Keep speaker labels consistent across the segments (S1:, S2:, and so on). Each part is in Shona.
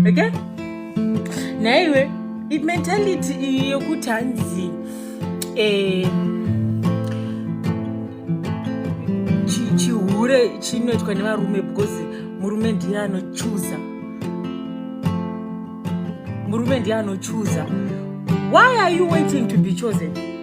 S1: okay naiwe imentality iyi yokuti hanzi eh, chihure chinoitwa nevarume because murume ndiye anochuza murume ndiye anochuza why are you waiting to be chosen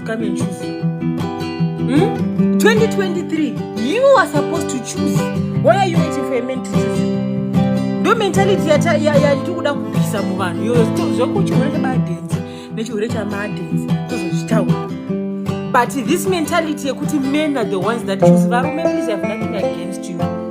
S1: come and choose hmm? 2023 you are supposed to choose why are you waiting for a man to choose ndo mentality yatiri kuda kupisa muvanhu iyoyo zvekuti chirwere chebadenzi nechirwere chamadenzi tozozvitaura but this mentality yekuti men are the ones that choose varume please have nothing against you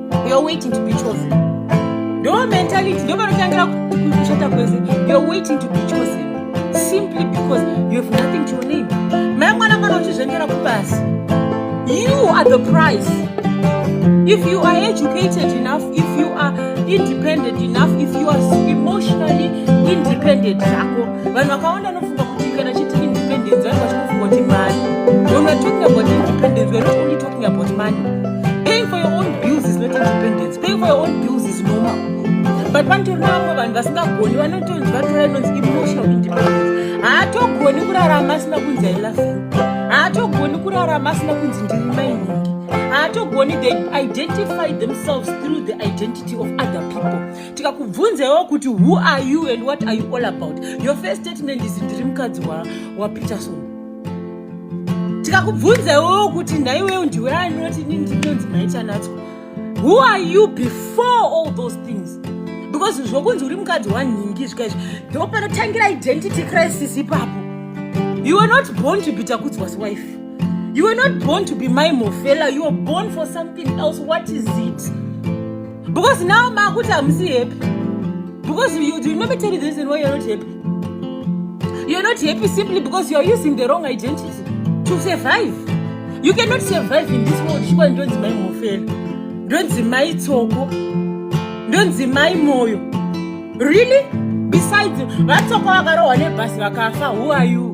S1: you're waiting to be chosen ndo mentality ndo panotangira kushata kwese you're waiting to be chosen simply because you have nothing to your name mai mwana kana uchizvengera kupasi you are the price if you are educated enough if you are independent enough if you are emotionally independent zvako vanhu vakawanda anofunga kuti kana chiti independence vanhu vachikufunga kuti mari when we're talking about independence we're not only talking talking about money. Paying for your own bills is not independence. Paying for your own bills is normal. But vantu rinamwe vanhu vasingagoni vanotonzi vatora inonzi emotional independence. Haatogoni kurarama asina kunzi I love you. Haatogoni kurarama asina kunzi ndiri mainini. haatogoni they identify themselves through the identity of other people tikakubvunzaiwo kuti who are you and what are you all about your first statement is ndiri mukadzi wapeterson wa ndikakubvunza iwewo kuti nhaiwewo ndiwe ani unoti ini ndinonzi maitanatswa who are you before all those things because zvokunzi uri mukadzi wanhingi zvika izvi ndo panotangira identity crisis ipapo you were not born to be takudzwa's wife you were not born to be my mofela you were born for something else what is it because now makuti hamusi happy because you, you remember tell the reason why you're not happy you're not happy simply because you're using the wrong identity to survive you cannot survive in this world chikwa ndonzi mai mofela ndonzi mai tsoko ndonzi mai moyo really besides vatsoko vakarohwa nebhasi vakafa who are you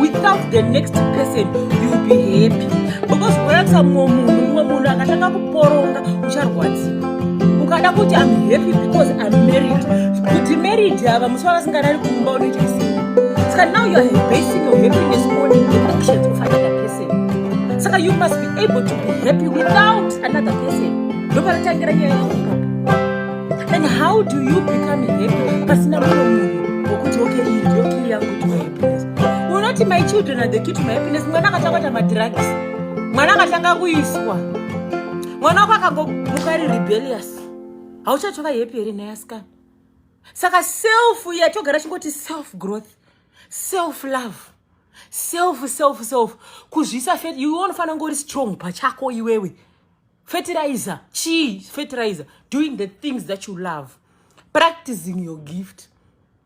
S1: without the next person youll be happy because kuratisa mumwe munhu mumwe munhu akatanga kuporonga ucharwadziwa ukada kuti am happy because am married kuti married ava musi wavasingarari kumba unoita sei saka now youare basing your happiness on the actions of another person saka you must be able to be happy without another person ndopanotangira nyaya yaunga and how do you become happy pasina mumwe munhu wokuti okay iyi ndiyo kiri yangu unoti my children are the key to my happiness mwana akatanga kuita madrugs mwana akatanga kuiswa mwana wako akangomuka ari rebellious hauchatova happy here naye asikana saka self yatogara chingoti self growth self love self self self kuzvisa fet iwe unofanira ngori strong pachako iwewe fertilizer chii fertilizer doing the things that you love practicing your gift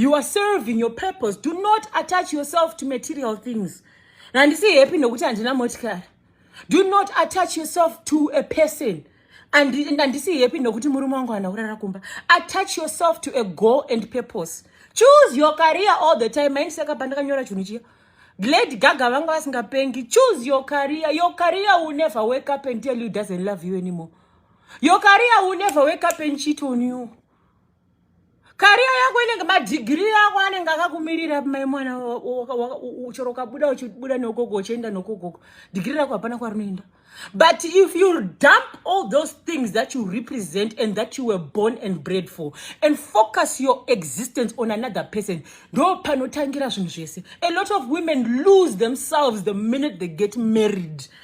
S1: you are serving your purpose do not attach yourself to material things handisi happy nokuti handina motikari do not attach yourself to a person handisi happy nokuti murume wangu hana kurara kumba attach yourself to a goal and purpose choose your career all the time maini saka pandakanyora chinhu chiya lady gaga vanga vasingapengi choose your career your career will never wake up and tell you doesn't love you anymore your career will never wake up and cheat on you kariya yako inenge madhigiri yako anenge akakumirira mai mwana chero ukabuda uchibuda nogogo uchienda nogogogo dhigiri rako hapana kwarinoenda but if you dump all those things that you represent and that you were born and bred for and focus your existence on another person ndo panotangira zvinhu zvese a lot of women lose themselves the minute they get married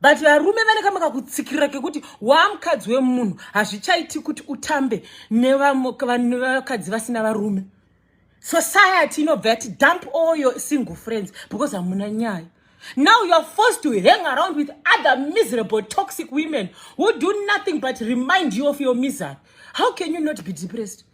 S1: but varume vane kamwe kakutsikirira kekuti waamukadzi wemunhu hazvichaiti kuti utambe nevakadzi vasina varume society inobva yati dump all your single friends because hamuna nyaya now you are forced to hang around with other miserable toxic women who do nothing but remind you of your misery how can you not be depressed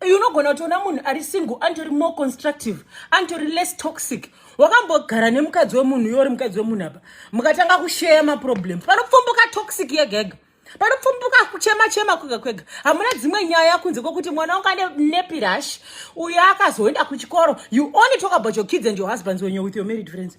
S1: Eh, unogona kutiona munhu ari single antori more constructive antori less toxic wakambogara nemukadzi wemunhu iyo uri mukadzi wemunhu apa mukatanga kusheya maproblem panopfumbuka toxic yegega panopfumbuka kuchema chema kwega kwega hamuna dzimwe nyaya kunze kwekuti mwana wanga nepirash uyo akazoenda kuchikoro you only talk about your kids and your husbands when you're with your married friends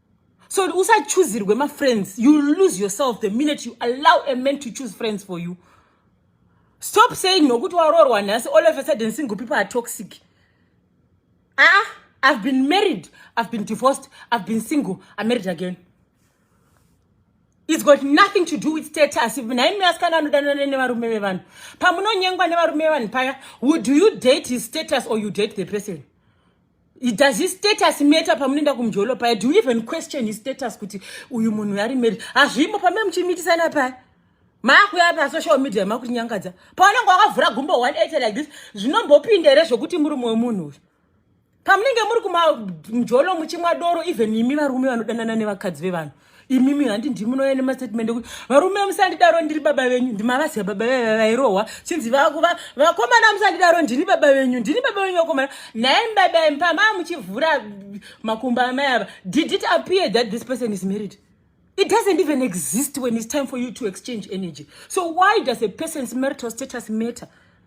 S1: so usachuzirwe mafriends you lose yourself the minute you allow a man to choose friends for you stop saying nokuti waroorwa nhasi all of a sudden single people are toxic aa ah, ah, i've been married i've been divorced i've been single i'm married again its got nothing to do with status naimi asikana anodanana nevarume vevanhu pamunonyengwa nevarume vevanhu paya would you date his status or you date the person does his status matter pamunoenda kumjolo paya do you even question his status kuti uyu munhu ari married hazvimo pamene muchimitisana paya maakuya pasocial media makutinyangadza paunenge wakavhura gumbo 180 like this zvinombopinda here zvekuti muri mumwe munhu uyu pamunenge muri kumamjolo muchimwa doro even imi varume vanodanana nevakadzi vevanhu imimi handi ndimunouya nemastatement ekuti varume musandidaro ndiri baba venyu ndimavaziva baba vaiva vairohwa chinzi vakomana musandidaro ndini baba venyu ndini baba venyu vakomana nhaye mbaba mpama muchivhura makumbo amai ava did it appear that this person is married it doesn't even exist when it's time for you to exchange energy so why does a person's marital status matter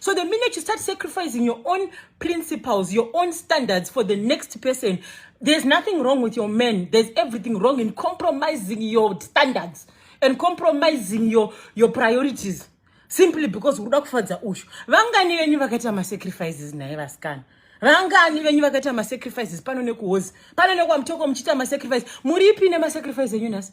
S1: So the minute you start sacrificing your own principles, your own standards for the next person, there's nothing wrong with your men. There's everything wrong in compromising your standards and compromising your, your priorities. Simply because ukuda kufadza ushu. Vangani venyu vakaita ma sacrifices naye vasikana. Vangani venyu vakaita ma sacrifices pano nekuhozi. Pano nekwa mtoko muchiita ma sacrifice. Muripi ne ma sacrifice enyu nasi?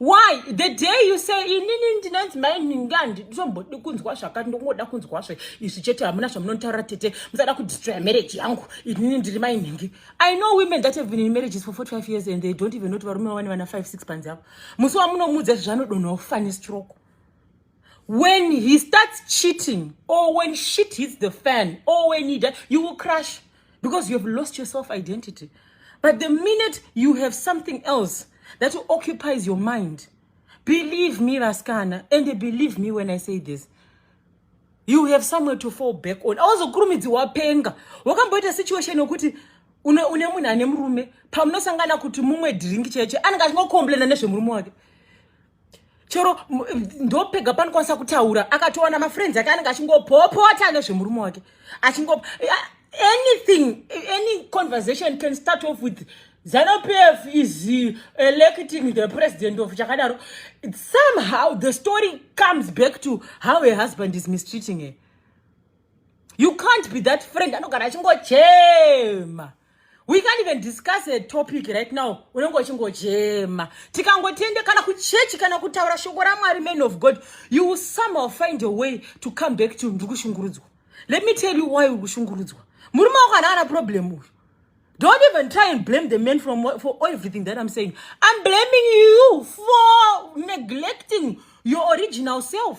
S1: why the day you say inini ndinonzi mai minga nditombodi kunzwa zvakati ndongoda kunzwa zve izvi chete hamuna zvamunotaura tete musada kudestroya marriage yangu inini ndiri mai mingi i know women that have been in marriages for 45 years and they don't even not varume vane vana 5 6 panzi avo musi wamunomuudza zvezvanodonhawo fani stroke when he starts cheating or when shit hits the fan or when he dies, you will crash because you have lost your self identity. But the minute you have something else that occupies your mind, believe me, Raskana, and believe me when I say this, you have somewhere to fall back on. Auzokurumidzi wapenga. Wakamboita situation yokuti une une munhu ane murume pamunosangana kuti mumwe drink chaicho anenge achingocomplaina nezvemurume wake. chero ndopega panokwanisa kutaura akatowana mafriends ake anenge achingopopota nezvemurume wake achingo anything any conversation can start off with zanopf is electing the president of chakadaro somehow the story comes back to how a husband is mistreating her you can't be that friend anogara achingochema we can't even discuss a topic right now unenge uchingochema tikangotiende kana kuchechi kana kutaura shoko ramwari man of god you will somehow find a way to come back to ndiri kushungurudzwa let me tell you why uri kushungurudzwa murume wako ana ana problem uyu don't even try and blame the man from, for everything that i'm saying i'm blaming you for neglecting your original self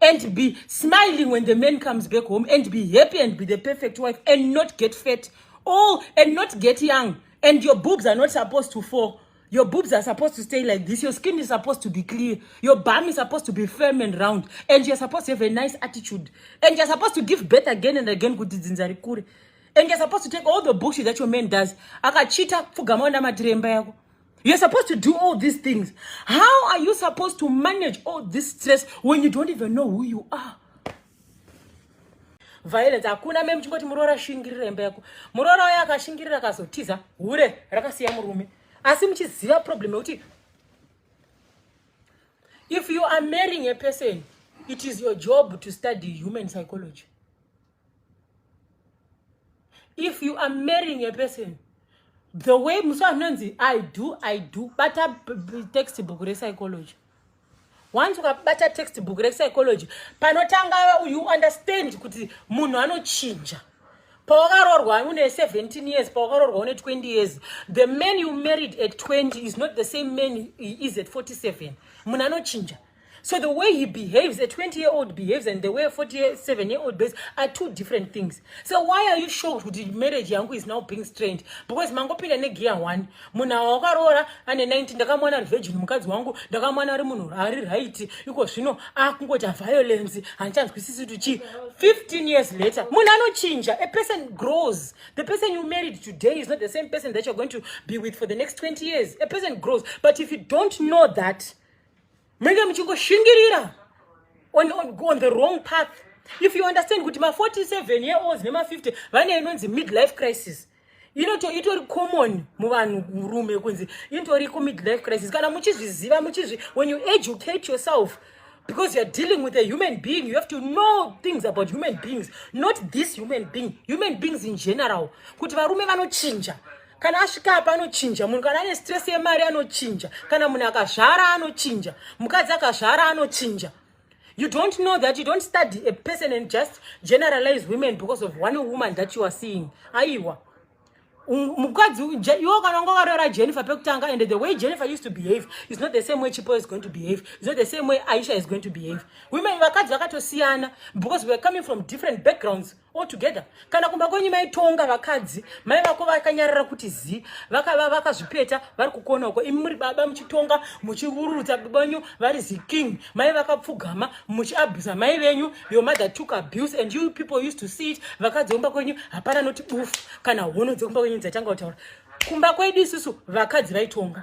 S1: and be smiling when the man comes back home and be happy and be the perfect wife and not get fat all and not get young and your boobs are not supposed to fall your boobs are supposed to stay like this your skin is supposed to be clear your bum is supposed to be firm and round and you're supposed to have a nice attitude and you're supposed to give birth again and again kuti dzinza rikure and you're supposed to take all the bullshit that your man does akachita pfugama ona matiremba yako You're supposed to do all these things. How are you supposed to manage all this stress when you don't even know who you are? violence hakuna me muchingoti muroora ashingirira imba yako muroora uya akashingirira akazotiza hure rakasiya murume asi muchiziva problem yekuti if you are marrying a person it is your job to study human psychology if you are marrying a person the way musa anonzi i do i do bata text book repsychology once ukabata text book repsychology panotanga you understand kuti munhu anochinja pawakarorwa une 17 years pawakarorwa une 20 years the man you married at 20 is not the same man he is at 47 munhu anochinja So the way he behaves, a 20 year old behaves, and the way a 47 year old behaves are two different things. So why are you shocked with the marriage yangu is now being strained? Because mangopinda ne gear one. Muna wakarora ane 19 ndakamwana ari virgin mukadzi wangu, ndakamwana ari munhu ari right. Iko zvino akungoti ah, violence, hanchanzwisisi kuti chi. 15 years later, munhu anochinja. A person grows. The person you married today is not the same person that you're going to be with for the next 20 years. A person grows. But if you don't know that, menge muchingoshingirira on, on, on the wrong path if you understand kuti ma47 year olds nema50 vane inonzi midlife crisis inoto itori common muvanhu murume kunzi itori kumidlife crisis kana muchizviziva muchizvi when you educate yourself because youare dealing with a human being you have to know things about human beings not this human being human beings in general kuti varume vanochinja kana asvika apa anochinja munhu kana ane stress yemari anochinja kana munhu akazvara anochinja mukadzi akazvara anochinja you don't know that you don't study a person and just generalize women because of one woman that you are seeing aiwa um, mukadzi iwo kana wanga wakaroora jennifer pekutanga and the way jennifer used to behave is not the same way chipo is going to behave is not the same way aisha is going to behave women vakadzi vakatosiyana because weare coming from different backgrounds all together kana kumba kwenyu maitonga vakadzi mai vako vakanyarara kuti zi vakazvipeta vaka vari kukona uko imi muri baba muchitonga muchivururutsa banyu vari ziking mai vakapfugama muchiabusa mai venyu your mother took abuse and you people used to see it vakadzi vomba kwenyu hapana noti bufu kana hono dzekumba kwenyu dzatanga kutaura kumba kwedu isusu vakadzi vaitonga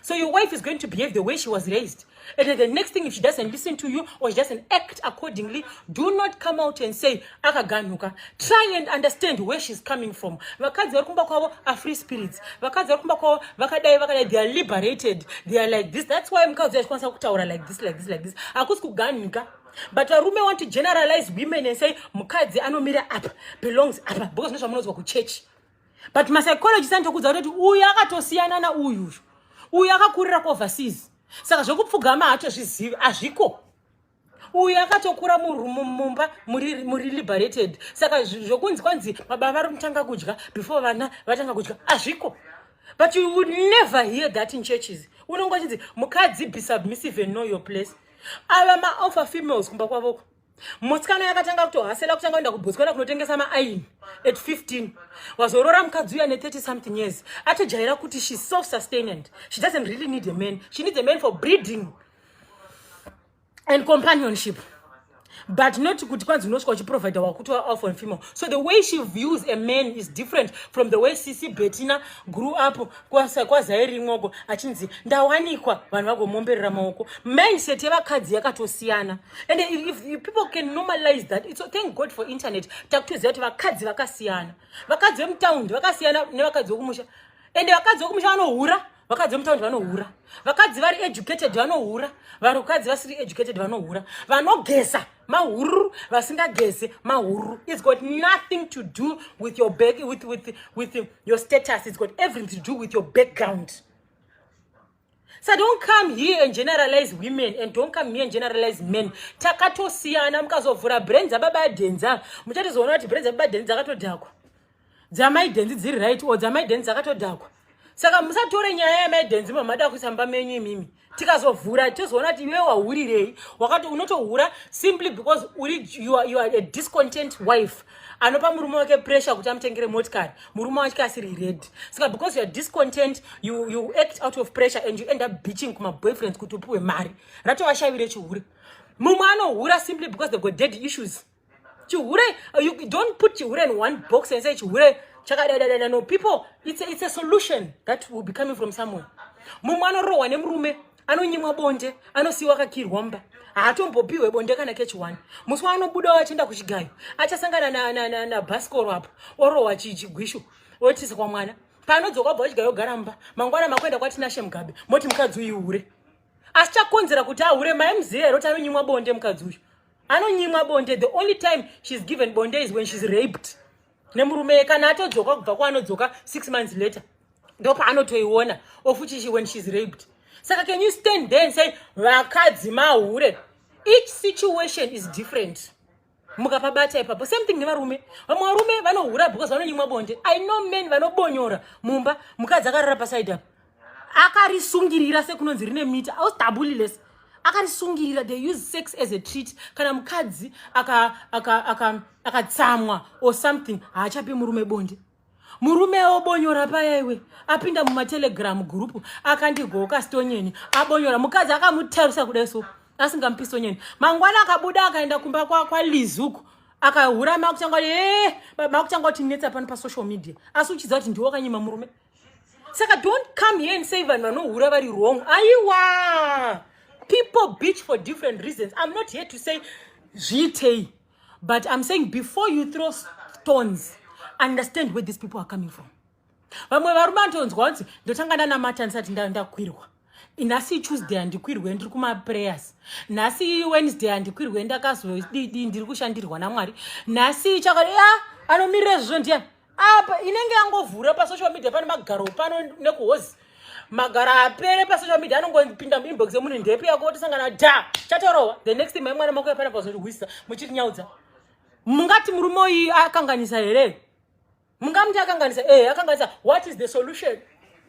S1: So your wife is going to behave the way she was raised. And then the next thing, if she doesn't listen to you or she doesn't act accordingly, do not come out and say, akaganuka. Try and understand where she's coming from. Vakadzi vari kumba kwavo are free spirits. Vakadzi vari kumba kwavo vakadai vakadai they are liberated. They are like this. That's why mukadzi achikwanisa kutaura like this, like this, like this. Hakusi kuganuka. But varume want to generalize women and say mukadzi anomira apa belongs apa because nezvamunonzwa kuchurch. but mapsychologist anotokudza kuti uyu akatosiyana na uyu uyu uyu akakurira kuoverseas saka zvekupfugama haatozvizivi hazviko uyu akatokura mumba muri liberated saka zvokunzi kwanzi baba vari kutanga kudya before vana vatanga kudya hazviko but you would never hear that in churches unongo chinzi mukadzi be submissive and know your place ava maoffer females kumba kwavoko Motsikana yakatanga kutohasela kutanga kuenda kuBotswana kunotengesa maaini at 15. Wazorora mukadzi uya ne 30 something years. Atojaira kuti she self sustained. She doesn't really need a man. She needs a man for breeding and companionship. But not kuti kwanzi unosvika uchiprovider wakuti alpha and female. So the way she views a man is different from the way Sisi Bettina grew up kwazairimwoko achinzi ndawanikwa vanhu vagomomberera maoko mindset yevakadzi yakatosiyana and if, if people can normalize that it's, thank god for internet takutoziva kuti vakadzi vakasiyana vakadzi vemutaundi vakasiyana nevakadzi vekumusha ende vakadzi vekumusha vanohura vakadzi vemutaundi vanohura vakadzi vari educated vanohura vakadzi vasiri educated vanohura vanogeza mahururu vasingageze mahururu its got nothing to do with your back, with, with, with your status its got everything to do with your background so don't come here and generalize women and don't come here and generalize men takatosiyana mukazovhura brain dzababa dhenza muchatozoona kuti brain dzababa dhenza dzakatodhakwa dzamaidhenzi dziri right or dzamaidhenzi dzakatodhakwa saka musatore nyaya yamaidhenzi mamada kuisa mba menyu imimi tikazovhura tozoona kuti iwe wahurirei wakati unotohura simply because uri you are, you are a discontent wife anopa murume wake pressure kuti amutengere motikari murume wake asiri red saka because youare discontent you, you act out of pressure and you end up beaching kumaboyfriends kuti upiwe mari ratovashavire chihure mumwe anohura simply because they've got dead issues chihure uh, you don't put chihure in one box and say chihure chakadadadada no people it's a, it's a solution that will be coming from somewhere mumwe anorohwa nemurume anonyimwa bonde anosiiwa akakirwa mba haatombopihwe bonde kana kechiwani musi waanobudawo achienda kuchigayo achasangana nabhasikoro apo orohwa chigwishu otisa kwa mwana paanodzoka bva wachigayo gara mba mangwana makuenda kwatinashe mugabe moti mukadzi uyu hure asi chakonzera kuti ahure maimziva here kuti anonyimwa bonde mukadzi uyu anonyimwa bonde the only time she's given bonde is when she's raped nemurume kana atodzoka kubva kwaanodzoka six months later ndopaanotoiona ofuchishi when she's raped saka can you stand there and say vakadzi mahure each situation is different mukapabata ipapo same thing nevarume vamwe varume vanohura because vanonyimwa bonde i know men vanobonyora mumba mukadzi akarara pasaidi apo akarisungirira sekunonzi rine miti austabuliless akarisungirira they use sex as a treat kana mukadzi akatsamwa or something haachapi murume bonde murume obonyora paya iwe apinda mumatelegram group akandigoka stonyeni abonyora mukadzi akamutarisa kudai so asingamupi stonyeni mangwana akabuda akaenda kumba kwalizuku kwa akahura makutanga kuti ee eh, makutanga kuti netsa pano pasocial media asi uchiziva kuti ndiwo kanyima murume saka don't come here and say vanhu vanohura vari wrong aiwa people beach for different reasons i'm not here to say zviitei but i'm saying before you throw stones understand where these people are coming from vamwe varume anotonzwa vanzi ndotanga ndanamata ndisati ndakwirwa nhasi tuesday handikwirwe ndiri kumaprayers nhasi wednesday handikwirwe ndakazodidi ndiri kushandirwa namwari nhasi chakati a anomirira zvizvo ndiyani apa inenge yangovhura pasocial media pane magaro pano nekuhozi magaro apere pasocial media anongopinda muinbox yemunhu ndepi yako tisangana da chatorowa the next time mwana makuya pana pazorihwisa muchitinyaudza mungati murume uyu akanganisa here mungamuti akanganisa ehe akanganisa what is the solution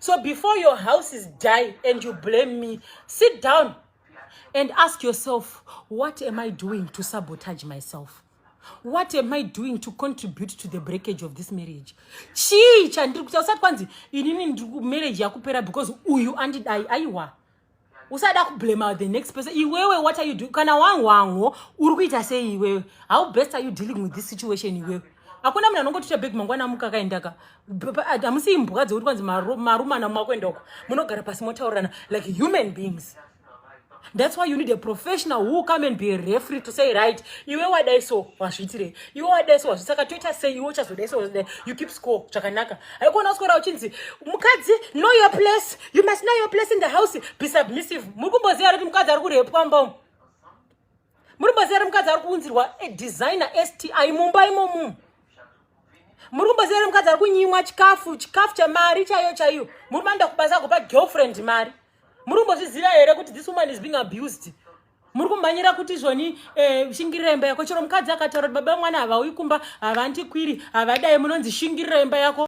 S1: so before your house is die and you blame me sit down and ask yourself what am i doing to sabotage myself what am i doing to contribute to the breakage of this marriage chii chandiri kuita usati kwanzi inini marriage yakupera because uyu andidai aiwa usada kublema the next person iwewe what are you doing kana wahwanho uri kuita sei iwewe how best are you dealing with this situation iwewe hakuna munhu anongotiita beg mangwana amuka akaendaka hamusi imbwa dzekuti kwanzi marumana makuenda uko munogara pasi motaurirana like human beings that's why you need a professional who come and be refree to say right iwe wadai so wazviitirei iwe wadai so wazvi saka toita sei iwe uchazodai so you keep score zvakanaka haikuona usikora uchinzi mukadzi know your place you must know your place in the house be submissive muri kumboziva kuti mukadzi ari kurepwa mbo muri kumboziva kuti mukadzi ari kuunzirwa a designer sti mumba imomu muri kumboziva kuti mukadzi ari kunyimwa chikafu chikafu chamari chaiyo chaiyo muri manda kubasa kupa girlfriend mari muri kumbozviziva here kuti this woman is being abused muri kumhanyira kuti zvoni eh, shingirira imba yako chero mukadzi akataura kuti baba mwana havauyi kumba havandikwiri havadai munonzi shingirira imba yako